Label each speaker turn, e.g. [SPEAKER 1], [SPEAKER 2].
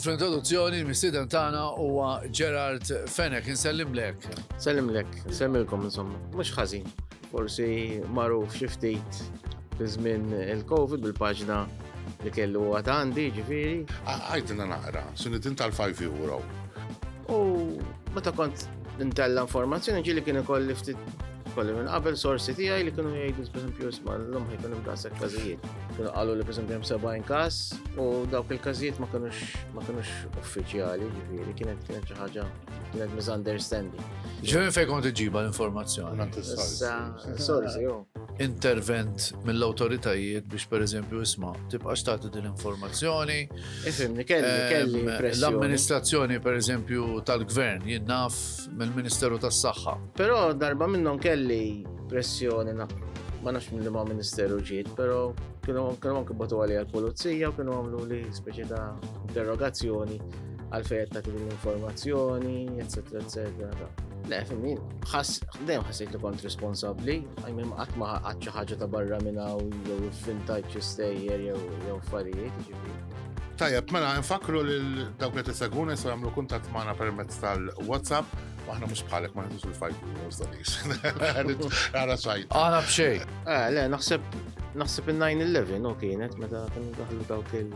[SPEAKER 1] fl-introduzzjoni l-mistiden tagħna huwa Gerard Fenek, insellimlek. Sellimlek, semmilkom
[SPEAKER 2] insomma, mhux ħażin. Forsi magħruf xi ftit fi żmien il-Covid bil-paġna li kellu huwa għandi, ġifieri. Għajdna naqra,
[SPEAKER 3] sunitin tal-5 euro. U
[SPEAKER 2] meta kont intella informazzjoni ġili kien ikolli ftit kolli minn qabel sorsi tiegħi li kienu jgħidu pereżempju isma' l-lum ħajkun hemm daqshekk każijiet. Kienu qalu li pereżempju hemm 70 każ u dawk il-każijiet ma kinux ma kinux uffiċjali, ġifieri kienet kienet xi ħaġa Kienet misunderstanding. Ġivin fej kont
[SPEAKER 1] iġiba l-informazzjoni.
[SPEAKER 2] Sorsi, jo. Intervent
[SPEAKER 1] mill-autoritajiet biex per eżempju isma tibqa xtati din l-informazzjoni. Ifimni, kelli,
[SPEAKER 2] kelli. L-amministrazzjoni per
[SPEAKER 1] eżempju tal-gvern jinnaf mill-Ministeru tas-Saħħa. Però darba
[SPEAKER 2] minnhom kelli pressjoni ma nafx minn li ma' ministeru ġiet, pero kienu anke batu għalija l-polizija u kienu għamlu li speċi ta' interrogazzjoni għalfej qed tagħti l-informazzjoni, eċetera, eċetera. Le, fimmin, dejjem ħassejt li kont responsabbli, għajmim qatt ma ħadd xi ħaġa ta' barra minn hawn jew vintage stejjer jew jew affarijiet, ġifieri. Tajjeb, mela
[SPEAKER 3] nfakru lil dawk li tiseguna jistgħu jagħmlu kuntatt magħna permezz tal-WhatsApp, aħna mhux bħalek ma nħisu l-fajt u stadis. Għara sajt. Għana b'xej.
[SPEAKER 1] Eh, le,
[SPEAKER 2] naħseb naħseb in-9-11 u kienet meta kienu daħlu dawk il-